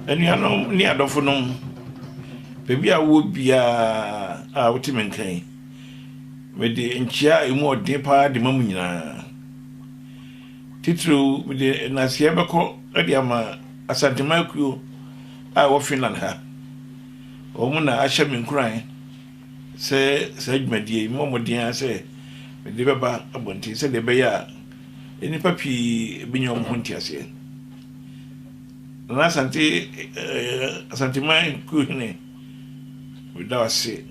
anuanom ne adɔfonom baabi a wowɔ biara a wote me nka yi mede nkyia a ɛmu ɔden paa de ma mu nyinaa titiriw mede naseɛ bɛkɔ de ama asantema akuo a ɛwɔ finland ha Wɔn na ahyɛ me nkuran sɛ saa dwumadie yi memmɔ mmɔden ara sɛ mede bɛba abɔnten sɛdeɛ ɛbɛyɛ a nnipa pii bɛnya wɔn ho nteaseɛ. Nana Asante, eh, Asanteman kuo hene, meda wo ase.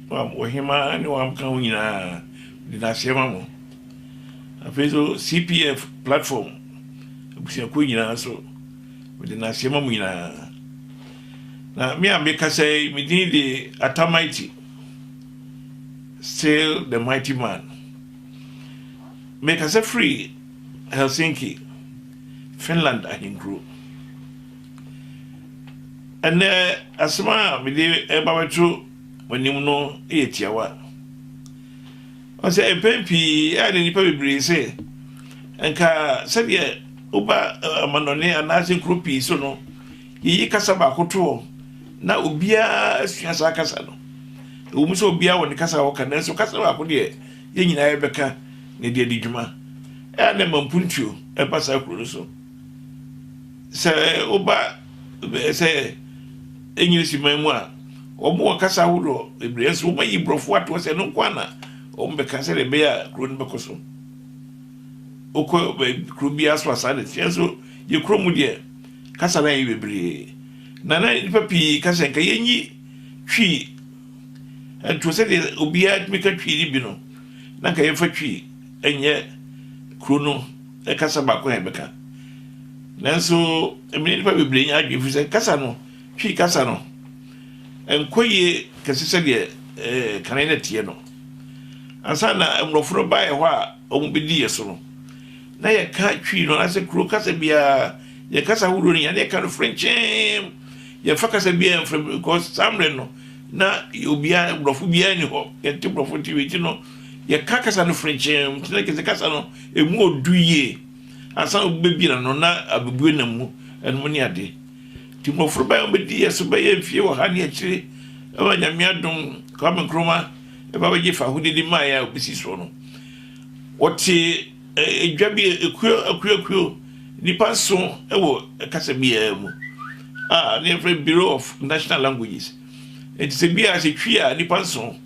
Wɔhema ne wɔaka ho nyinaa, mede no aseɛ ma mo. Afei nso CPF platform abusuakuo nyinaa nso, mede no aseɛ ma mo nyinaa. Na me a mekasa yi, me din de Atamighty, still the mighty man. Mekasa firi Helsinki, Finland ahenkuro. Ɛnɛ asɛm a mede ɛba bɛto mo anim no yɛ tiawa. Ɔsɛ mpɛn pii a na nnipa bebree sɛ nka sɛdeɛ woba amanɔne anaasɛ nkuro pii so no Yeyi kasa baako to hɔ na obiara asua saa kasa no. Ɛwom sɛ obiara wɔ ne kasa a ɔka, nanso kasa baako deɛ yɛn nyinaa yɛbɛka na ɛde adi dwuma. Ɛyɛ a na ɛma mpuntuo ɛba saa kuro no so. Sɛ woba eh, sɛ English man mu a, wɔn wɔ kasa ahodoɔ bebree, nso wɔn ayi borɔfo ato hɔ sɛ ɛno nko ara na wɔn bɛka sɛdeɛ ɛbɛyɛ a kuro no bɛkɔ so. Wokɔ baabi- kuro biara so a saa na ɛteɛ, nso yɛn kuro mu deɛ, kasa no ayɛ bebree, na na nnipa pii ka sɛ nka yenyi Twi nto sɛdeɛ obiara tumi ka Twi no bi no, na nka yɛmfa Twi nyɛ kuro no kasa baako a yɛbɛka. Nanso, ɛmene nnipa bebree nya adwene fi sɛ kasa no, Twi kasa no, ɛnkɔ yie kɛse sɛdeɛ eh, kane na ɛteɛ no. Ansa na mmorɔfo no baeɛ hɔ a, wɔbɛdi yɛn so no, na yɛka Twi no anaasɛ kuro kasa biara, yɛn kasa ahodoɔ no nyinaa, na yɛka no frenkyeem. Yɛmfa kasa biara mfrɛ mu because saa mmerɛ no, na obiara, borɔfo biara ni hɔ. Yɛnte borɔfo nti wei ti no, yɛka kasa no frenkyeem. Nti na kɛse kasa no, ɛmu ɔdu yie. Ansa na wobɛbie no no, na abɛbue nam mu, ɛnom ne ade. Nti mmɔfra bɛyɛ wɔbɛdi yɛn so bɛyɛ mfie wɔ ha ne akyire, ɛwɔ Nyame adom, Kwame Nkrumah. ba bɛgye fahodie de maeɛ a ɔbɛsi soɔ no. Wɔtee edwa bi ekuo akuo akuo nnipa nson wɔ kasa biara mu a ne yɛfrɛ Bureau of National Languages. Nti sɛ bi a sɛ twi a nnipa nson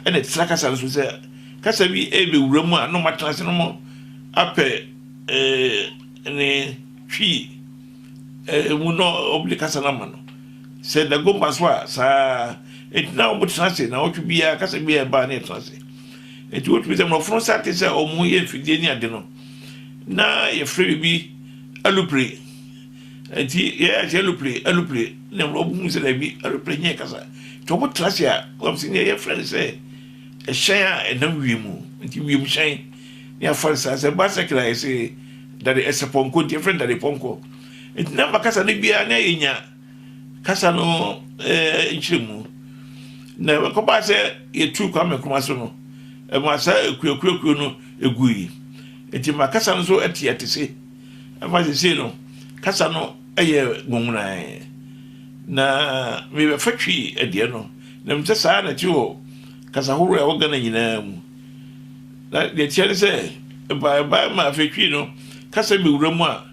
ɛna ɛtena kasa no so sɛ kasa bi ɛbɛwura mu a na ɔmatena ase no mo apɛ ne twi Ɛɛ mu no wɔn de kasa no ama no sɛ dagomba so a saa nti na wɔn tena ase na ɔtwe biara kasa biara ɛbaa ne ɛtena ase nti wotumi sɛ mmorɔfo nsa te sɛ wɔn ho yɛ mfidie ne ade no na yɛfrɛ biribi alupre nti yɛyɛ ase alupre alupre na mmorɔfo hu sɛ dabi alupre nyɛ kasa nti wɔn tena ase a wɔn sɛ yɛfrɛ no sɛ ɛhyɛn a ɛnam wiem nti wiem hyɛn. ne afansa sɛ bicycle a yɛse dade ɛsɛ pɔnkɔ nti yɛfrɛ no dade pɔnkɔ nti na makasa no biara na yɛnya kasa no ɛɛ nkyerɛmu na ɛkɔbaa sɛ yɛtu Kwame Nkrumah so no ɛma saa akuakuakuo no ɛgui nti ma kasa no so ɛte ɛte se ɛma sesei no kasa no ɛyɛ ngongonae na mebɛfa twi ɛdeɛ no na mesɛ saa na ɛte wɔ kasa horoɔ a ɛwɔ Ghana nyinaa mu Na deɛ ɛteɛ ne sɛ, ɛbae ɛbae maa afei twii no kasa bi wura mu a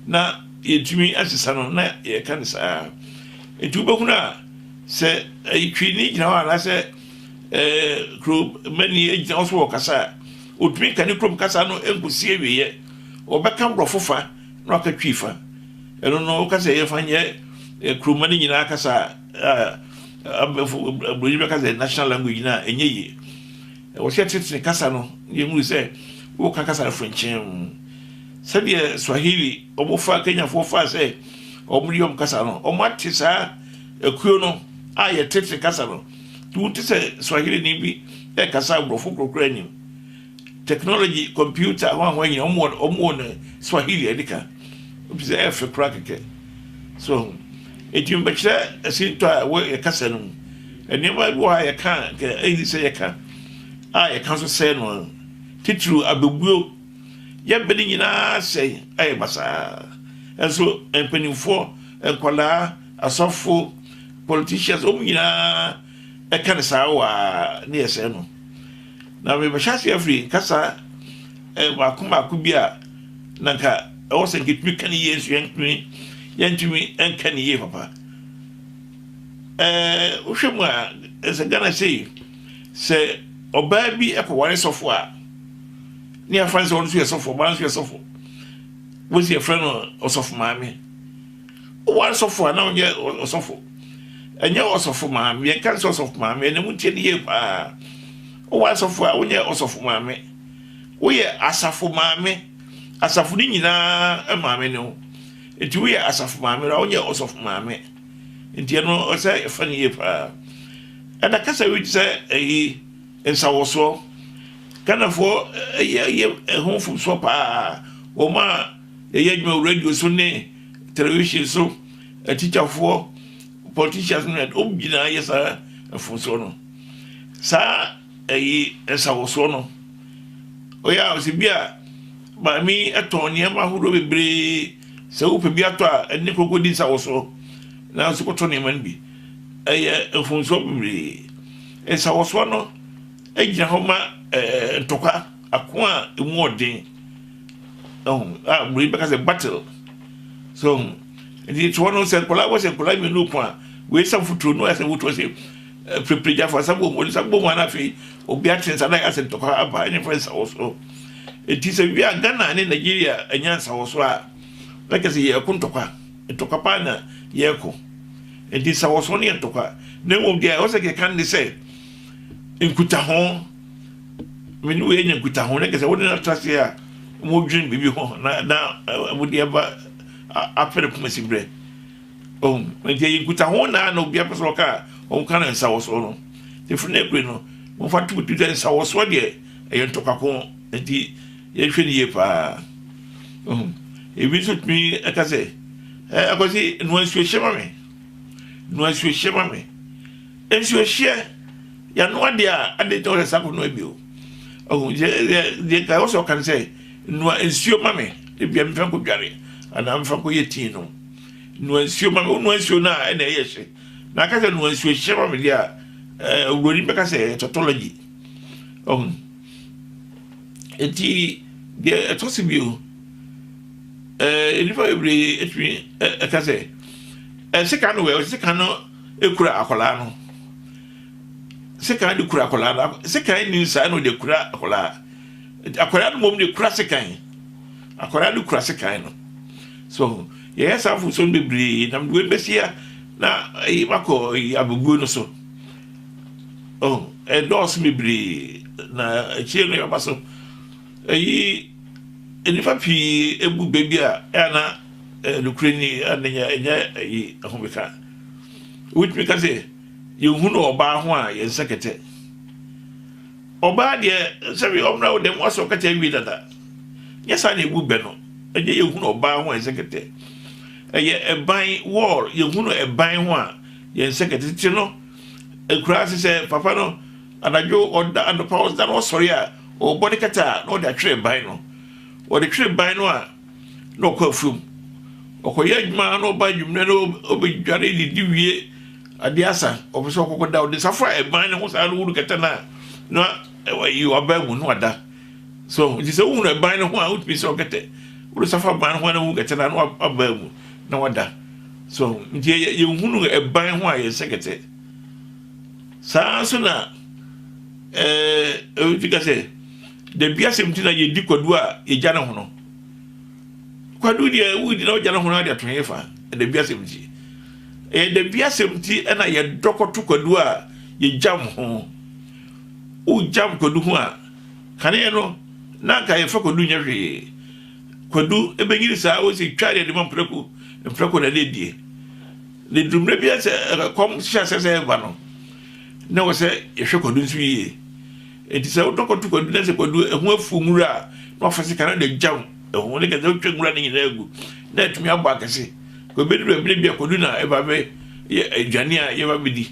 na yɛntumi ansesa no, na yɛka no saa ara. Nti wobɛhunu a sɛ ɛyi twii ni gyina hɔ anaasɛ ɛɛ kuromani gyina hɔ so wɔ kasa a, ɔtumi ka ne kurom kasa no nkɔsi awieɛ. Ɔbɛka borɔfo fa na waka twii fa. Ɛno no woka sɛ yɛmfa nyɛ kuromani nyinaa kasa a, Abrɛfo aburoni bɛka sɛ national language no a ɛnyɛ yie. Wɔhwɛ tete kasa no yɛhunu sɛ woka kasa no frenkyɛn mu sɛdeɛ swahili wɔfaa kenyafoɔ faa sɛ wɔde wɔn kasa no wɔate saa akuo no a yɛtete kasa no nti wote sɛ swahili ni bi ɛkasa aborɔfo korokora anim technology computer ho ahoa nyina wɔwɔ ne swahili ɛde ka ɛfisɛ ɛfɛ koraa kɛkɛ So wahu? Enti mebɛkyerɛ asintɔ a ɛwɔ yɛn kasa no mu. Nneɛma bi wɔ hɔ a yɛka a anka ɛnni sɛ yɛka, a yɛka nso sɛe no ara. Titiriw abɛbuo. Yɛn bɛ no nyinaa sɛe, ayɛ basaa. Nso mpanimfoɔ, nkwadaa, asɔfo, politicians, wɔn nyinaa ɛka no saa waa, na yɛsɛe no. Na merehyɛ ase afiri kasa mmaako mmaako bi a na nka ɛwɔ sɛ nketumi ka ne yie nso yɛntumi yɛntumi nka ne yie papa ɛɛ wohwɛ mu a ɛsɛ Ghana sei sɛ ɔbaa bi ɛkɔware sɔfo a ne yɛafa ne sɛ ɔno nso yɛ sɔfo ɔbaa nso yɛ sɔfo wosi yɛfrɛ no ɔsɔfo maame Oware sɔfo a na ɔnyɛ ɔsɔfo. Ɛnyɛ ɔsɔfo maame. Yɛka sɛ ɔsɔfo maame ɛna mu tie no yie paa. Oware sɔfo a wonyɛ ɔsɔfo maame. Woyɛ asafo maame. Asafo no nyinaa maame ne wo. Nti woyɛ asafo maame no a wonyɛ ɔsɔfo maame. Nti ɛno ɔsɛ ɛfa no yie paa. Ɛna kasa wi te sɛ ɛyi nsawɔsoɔ. Ghanafoɔ ɛyɛ ɛyɛ ɛho mfomsoɔ paa. Wɔn a yɛyɛ adwuma wɔ radio so ne television so atikyafoɔ politicians no ɛde wɔn nyinaa yɛ saa mfomsoɔ no saa ɛyi nsawosoɔ no ɔyɛ a ɔsɛ bi a maame ɛtɔn nneɛma ahodoɔ bebree sɛ wopɛ bi atɔ a ɛne koko di nsawosoɔ nanso kɔtɔ nneɛma no bi ɛyɛ mfomsoɔ bebree nsawosoɔ no egyina hɔ ma ɛɛ ntɔkwa ako a emu ɔden. Broni bɛka sɛ battle. So nti toɔ no sɛ nkwadaa wɔhyɛ nkwadaa mmienu ko a wei sɛ futuro no ɛsɛ futuro sɛ pirepire gya fa sabom wɔde sabom ana afei obi ate nsa na asɛ ntɔkwa aba ɛne fɛ nsa wɔ so. Eti sɛ wia Ghana ne Nigeria ɛnya nsa wɔ so a na kyɛ sɛ yɛko ntɔkwa ntɔkwa paa na yɛko. Eti nsa wɔ so ne yɛ ntɔkwa na mmom deɛ ɛwɔ sɛ kɛkan ne sɛ nkutaho. Me ne oyi anya nkutaho, na kɛsɛ wode no atra ase a wɔdwene biribi ho na na wɔde aba apɛ no poma sibrɛ ɔhu nti ɛyɛ nkutaho na na obi apɛ sɛ ɔka a wɔka no nsawɔsoɔ no ɛfiri no akure no wɔmfa to bɛtu sɛ nsawɔsoɔ deɛ ɛyɛ ntɔkwako nti yɛhwɛ no yie paa ɔhu ebi nso tumi ɛka sɛ ɛkɔsi noa nsuo hyɛ ma me noa nsuo hyɛ ma me Nsuo hyeɛ yɛano adeɛ a adeɛ nti a wɔsɛ sako no abio ɔhu deɛ nka wɔsɛ ɔkan sɛ nua nsuo ma me ebia mefa nkɔ dware anaa mefa nkɔ yɛ tii nom nua nsuo ma me wonua nsuo no a ɛna ɛyɛ hye na aka sɛ nua nsuo hyɛ ma me deɛ a owuroni bɛka sɛ tautology ɔhu nti deɛ ɛtɔ so bio nnipa bebree atumi ɛka sɛ ɛsɛ ka no wɛ ɔsɛ ka no kura akwadaa no sekan de kura akwadaa no sekan ni nsa na ɔde kura akwadaa akwadaa no mmom de kura sekan akwadaa no kura sekan no so yɛyɛ saa afosuo no bebree na mede bɛsia na ɛyi makɔ ɛyi abubuo no so oh ɛdɔɔso bebree na akyire no yɛba so ɛyi nnipa pii ebu baabi a ɛna nokorɛ ni ɛna ɛnyɛ ɛyi ɛho bɛka. wobɛtumi ka sɛ yɛhunu ɔbaa ho a yɛn nsa kɛtɛ ɔbaa deɛ sɛbi ɔmena wo dɛm wasɛ ɔkɛtɛ awie dada nyɛ saa na ɛbu bɛ no ɛnyɛ yɛhunu ɔbaa ho a yɛn nsa kɛtɛ ɛyɛ ɛban wɔɔl yɛhunu ɛban ho a yɛn nsa kɛtɛ tete no ɛkura ase sɛ papa no anadwo ɔda anɔpa ɔda na ɔsɔre a ɔbɔ ne kɛtɛ a na ɔde atwerɛ ban no ɔde twerɛ ban no a na ɔkɔ afuom ɔkɔyɛ adwuma na ɔba adwummerɛ na ɔbɛdware didi wie adeɛ asa ɔpɛ sɛ ɔkɔkɔ da ɔde safa ɛban ne ho saa no wuru kɛtɛ no a na ɛyi ɔbaa mu no ada so nti sɛ wohunu ɛban ne ho a wotumi sɛ ɔkɛtɛ wode safa ban ho a na wohu kɛtɛ no a na wabaa mu na wada so nti yɛhunu ɛban ho a yɛnsɛ kɛtɛ saa nso na ɛɛ ɛwɔ ti ka sɛ Da biasɛm nti na yɛdi kwadu a yɛgya ne hono. Kwadu deɛ wodi na wogya ne hono ade ato hefa? Da biasɛm nti. Ɛyɛ da biasɛm nti na yɛdɔ kɔto kwadu a yɛgyam ho. Wogyam kwadu ho a, kaneɛ no na anka yɛmfa kwadu nyɛ hwee. Kwadu bɛnyini saa wo sɛ twa deɛ de ma mprako mprako na ne die. Na ɛduru mmerɛ bi sɛ kɔm hyɛ asɛ sɛ ɛba no na wɔ sɛ yɛhwɛ kwadu nso yie. Enti sɛ wodɔkɔto kwadu na sɛ kwadu ɛho afuw nwura a, na wafa sika no de gyam ɛho. Ne ka sɛ wotwa nwura no nyinaa gu na atumi abɔ akɛse. Kɔbɛduru baabi no bi a kwadu na ɛba bɛ yɛ aduane a yɛba bɛdi.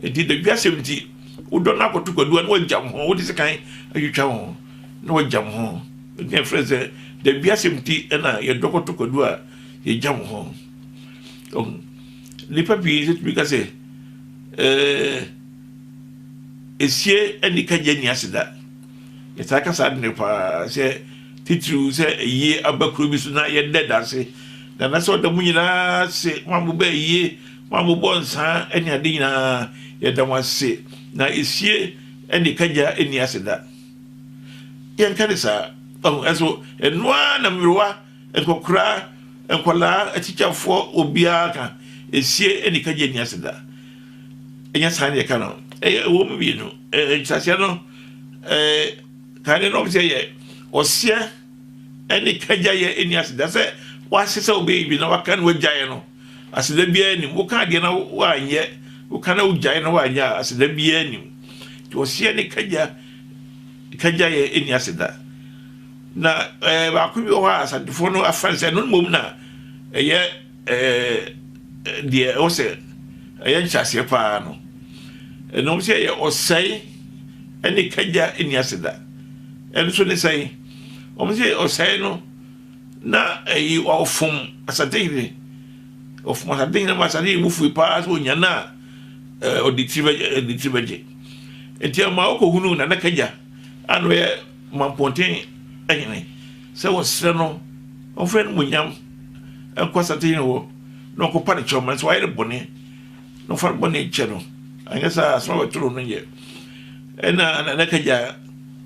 Enti dadwi asɛm nti, wodɔ no akɔto kwadu a na wagyam ho, wode sekan atwitwa ho na wagyam ho. Enti na yɛfrɛ sɛ dadwi asɛm nti na yɛdɔ kɔto kwadu a yɛgyam ho. Nnipa pii nso tumi ka sɛ ɛɛ. esie anika gya nni ase da. Yɛtaa ka saa ade no paa sɛ titiriw sɛ ayie aba kuro bi so na yɛda adanse na na sɛ ɔda mu nyinaa ase ma mobɛ ayie ma mobɔ nsaa ne ade nyinaa yɛda mo ase na esie anika gya nni ase da. Yɛnka ne saa ɛso ɛnoa na mmerewa Nkɔkoraa, nkwadaa, atikyafoɔ, obiara ka, esie ɛni kagye ɛni ase da. Ɛnyɛ saa na yɛka no. Ɛyɛ ɛwɔ mu mmienu. Ɛɛ nkyerɛaseɛ no ɛɛ kan no na wɔn sɛ yɛ ɔseɛ ɛne kagya yɛ ɛni ase da sɛ wɔahyɛ sɛ wɔbɛyɛ bi na wɔaka na wɔagyaeɛ no aseda biara nim. Woka adeɛ na wɔanyɛ, woka na wogyae na wɔanyɛ a aseda biara nim. Nti ɔseɛ ne kagya kagya yɛ ɛni ase da. Na ɛɛ baako bi wɔ hɔ a Asantefoɔ no afa no sɛ ɛno mmom na ɛyɛ ɛɛ deɛ ɛwɔ sɛ ɛyɛ nhyɛaseɛ paa no. Ɛnam sɛ ɛyɛ ɔsɛe ɛne kagya nni ase da. Ɛno nso ne sɛn? Wɔn sɛ ɔsɛe no na ɛyi ɔfom Asantehene. Ɔfom Asantehene ma Asantehene bu fui paa sɛ onya no a ɛɛ ɔde tiri bɛgye ɛde tiri bɛgye. Nti ɛma ɔkɔhunu Nana Kagya a na ɔyɛ Ma mpɔnten ahene sɛ wɔnsrɛ no ɔmfa n'animuonyam nkɔ asantehene hɔ na ɔnkɔpa no kyɛw ma no, sɛ wayɛ no bɔne na ɔmfa no bɔne nkyɛ no, anyɛ saa a asɛm a wɔbɛto no no nyɛ. Ɛnna Nana Kagyaa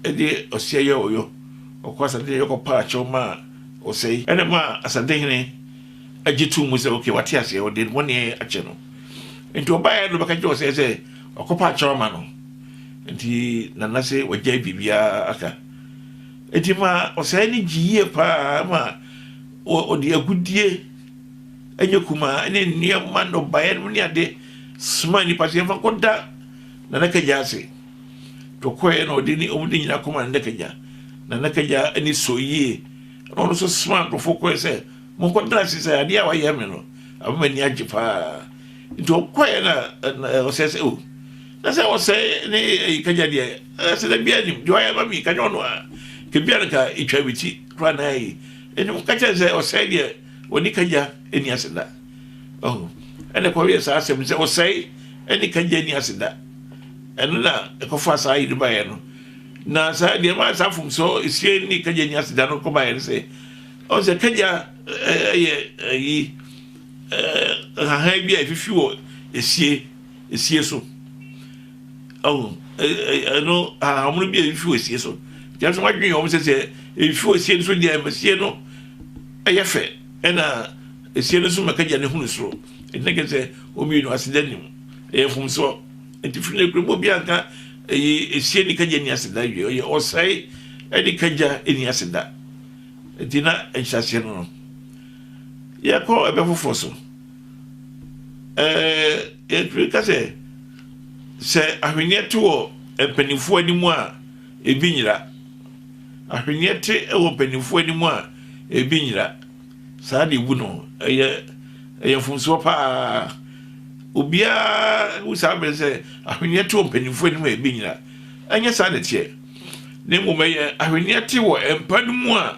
de ɔseɛ yɛɛ ɔyɔ, ɔkɔɔ asantehene hɔ kɔpaa kyɛw maa Osei. Ɛnna ɛmaa asantehene gye too mu sɛ, okay, wate aseɛ, wɔde ne bɔne akyɛ no. Enti wɔbaeɛ no bɛka kyerɛɛ Osei sɛ, Ɔkɔpɛ akyɛw ama no. Nti na na sɛ wagyae biribiara aka. Enti ma ɔsɛe no gye yie paa ma ɔde agudeɛ ɛnyɛ kumaa ne nneɛma nnɔbaeɛ nom ne ade soma nnipa sɛ yɛmfa nkɔda Nana Kagya ase. Nti ɔkɔeɛ na ɔde ne ɔmo de nyina kɔma Nana Kagya. Nana Kagya ani sɔ yie na ɔno nso soma nkurɔfoɔ kɔɛ sɛ monkɔda ase sɛ adeɛ a wayɛ me no ama m'ani agye paa. Nti ɔkɔɛ na ɔsɛe sɛ o na sɛ ɔsɛe ne ɛyi kanya deɛ ɛsɛ dɛ bia nim deɛ ɔyɛ ma mi kanya ɔno a kebia no ka etwa mi ti kora na ɛyi ɛne mo kakyɛ sɛ ɔsɛe deɛ ɔne kanya ɛni ase da ɔho ɛna ɛkɔ yɛ saa asɛm sɛ ɔsɛe ɛne kanya ɛni ase da ɛno na ɛkɔfa saa yi no baeɛ no na saa deɛ ma saa fom sɛ esie ne kanya ɛni ase da no kɔ baeɛ no sɛ ɔsɛ kanya ɛyɛ ɛyi nhahan bi a efifi wɔ esie esie so ɔho ɛno ahahammono bi a efifi wɔ esie so yɛnso wadwene wɔn sɛ sɛ efifi wɔ esie no so deɛ esie no ɛyɛ fɛ ɛna esie no so mɛka gya ne hunu soro ɛnna kɛ sɛ wɔn mmienu ase da nim ɛyɛ fam soɔ nti firi ne kurom obi anka ɛyɛ esie ne kagya ni ase da wie ɔyɛ ɔsɛe ɛde kagya ni ase da nti na nhyɛseɛ no no. Yɛkɔ ɛbɛ foforɔ so. Ɛɛ yɛtumi ka sɛ sɛ ahweneɛ te wɔ mpanimfoɔ anim a ebi nyera. Ahweneɛ te wɔ mpanimfoɔ anim a ebi nyera. Saa de ebu no ɛyɛ ɛyɛ mfomsoɔ paa. Obiara hu saa bere sɛ ahweneɛ te wɔ mpanimfoɔ anim a ebi nyera. Ɛnyɛ saa na ɛteɛ. Na mmom ɛyɛ ahweneɛ te wɔ mpa no mu a.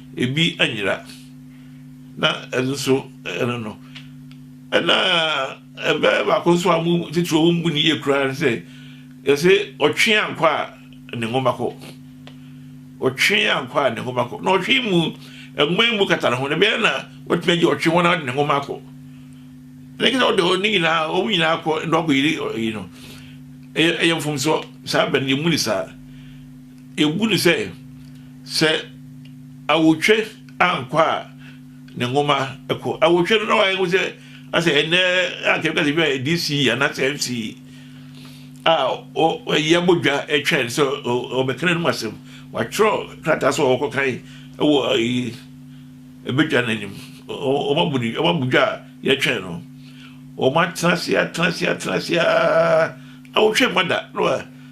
ebi anyera na ɛno nso ɛno no ɛna ɛbɛyɛ baako nso a mo titiri wɔn mu ni yie koraa no sɛ yɛsɛ ɔtwe ankɔ a ne nwoma kɔ ɔtwe ankɔ a ne nwoma kɔ na ɔtwe mu nwoma yi mu kata ne ho na ɛbɛyɛ na wɔtumi agye ɔtwe wɔn ade ne nwoma akɔ na ɛkɛ sɛ ɔde ɔne nyinaa wɔn nyinaa kɔ na ɔkɔ yiri yi no ɛyɛ ɛyɛ mfomsoɔ saa bɛn yɛ mu ni saa. Ebu no sɛ, sɛ awotwe ankɔ a ne nwoma kɔ. Awotwe no na wayɛ hu sɛ asɛ ɛnɛ anka ɛbɛka sɛ bia DC anaasɛ MC a ɔyɛ abɔdwa twɛn sɛ ɔbɛka n'anom asɛm. Watwerɛ krataa sɛ ɔkɔ kan wɔ ayi ɛbɛdwa no anim. Ɔmabu dwa a yɛtwɛn no. Ɔmatena ase atena ase atena ase a awotwe mma da.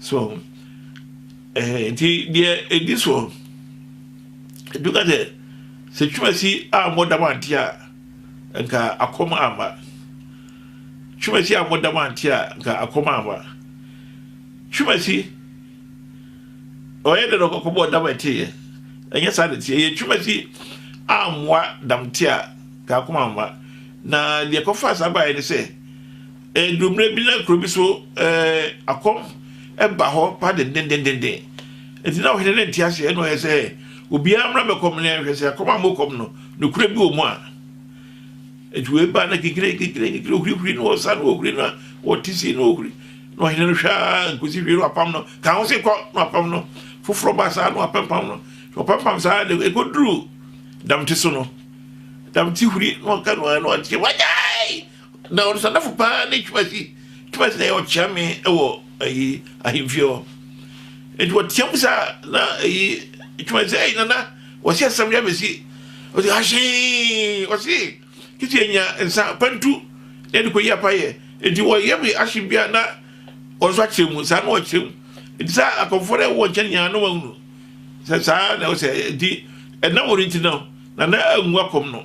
So ɔho? Ɛhɛn, ntsi deɛ edi soɔ no, ebi ka sɛ, sɛ Twumasi ammɔ dɛm ante a, nka akɔm amma. Twumasi ammɔ dɛm ante a, nka akɔm amma. Twumasi, ɔyɛ dɛ na ɔkɔbɔɔ dɛm ɛteeɛ. Ɛnyɛ saa na ɛteɛ. Ɛyɛ Twumasi ammoa dɛm te a, nka akɔm amma. Na deɛ ɛkɔfaa saa baeɛ ne sɛ, Ɛduru mmerɛ bi na kuro bi so akɔm ba hɔ pa dendendenden. Enti na ɔhene no nte aseɛ na ɔyɛ sɛ obiara mmra bɛkɔm no yɛnhwɛ sɛ akɔm a mokɔm no nokorɛ bi wɔ mu a. Enti wei baa na kikire kikire kikire ohurihuri no ɔsa no ohuri no ɔte si no ohuri na ɔhene no hwɛ a nkosi hwee no apam no ka ho se kɔ na apam no foforɔ baa saa no apempam no na ɔpempam saa de ɛkɔduru damte so no damte huri na ɔka no a na ɔte wagyae Na ɔnosanafo paa ne Twumasi. Twumasi na ɛyɛ ɔkyeame wɔ ayi ahemfie hɔ. Nti wɔteam mu saa na ayi Twumasi sɛ ɛyi nana wɔsi asɛm de abɛsi. Ɔsi ahyee ɔsi kisi anya nsa pantu na ɛde kɔyi apa yɛ. Nti wɔyɛ bi ahye bi a na wɔn nso akyerɛ mu saa na wɔkyerɛ mu. Nti saa akɔmfoɔ na ɛwɔ nkyɛn nyinaa na wɔahunu sɛ saa na ɛwɔ sɛ nti ɛnam wɔn nti no na na angu akɔm no.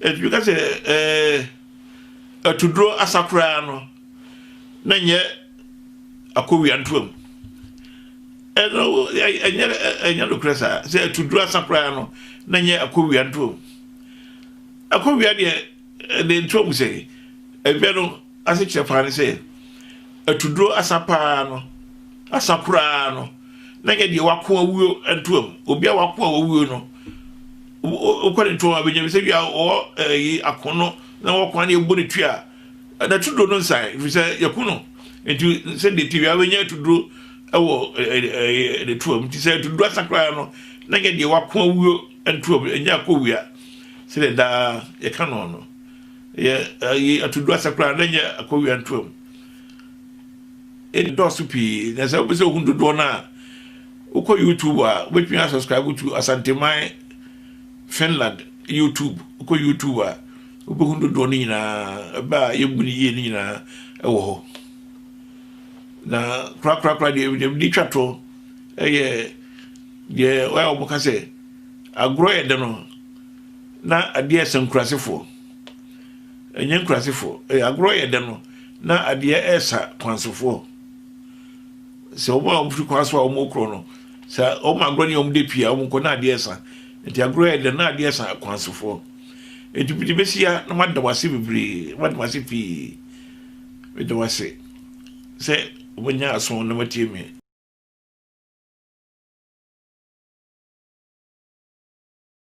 Ɛtumi ka sɛ, Ɛɛ, atuduro asa koraa no, na nyɛ akowia ntoam. Ɛno ɛnyɛ ɛnyɛ nokorɛ saa. Sɛ atuduro asa koraa no, na nyɛ akowia ntoam. Akowia deɛ ɛde ntoam sɛ ɛbɛ no ase kyerɛ paa ne sɛ atuduro asa paa no, asa koraa no, na nyɛ deɛ wako awuo ntoam. Obi a wako a wawuo no. Wokɔ ne tɔn a, bɛgyina bi sɛ wia ɔwɔ ɛyi ako no na wɔkɔ a na yɛbɔ ne twi a na tuduro no nsae ɛfiri sɛ yɛko no nti sɛdeɛ ti wia bɛnya tuduro ɛwɔ ne tuam nti sɛ tuduro asa koraa no na nyɛ deɛ wako awuo ntuam ɛnyɛ akɔ wia sɛdeɛ daa yɛka no no yɛ ɛyi atuduro asa koraa na nyɛ akɔ wia ntuam ɛdɔɔso pii na sɛ wopɛ sɛ ohun dodoɔ no a Wokɔ YouTube a, wobɛtumi asubscribe to Asanteman Finland YouTube. Wokɔ YouTube a, wobɛhu dodoɔ no nyinaa, ɛbɛ a yɛbu no yie no nyinaa ɛwɔ hɔ. Na korakorakora deɛ deɛ mede twa to ɛyɛ deɛ wɔyɛ a wɔka sɛ agorɔ yɛ dɛ no na adeɛ ɛsɛ nkurasefoɔ. Ɛnyɛ nkurasefoɔ, ɛyɛ agorɔ yɛ dɛ no na adeɛ ɛsa kwansofoɔ. Sɛ wɔn a wɔfiri kwan so a wɔrekorɔ no, sɛ wɔn agorɔ ne wɔn da pii a, wɔkɔ na adeɛ sa. Nti agorɔ yɛ dɛn? Na adeɛ sa akwansofoɔ. Nti mede bɛsi ha na mada wase bebree, mada wase pii. Meda wase sɛ wɔanya aso na wɔatie me.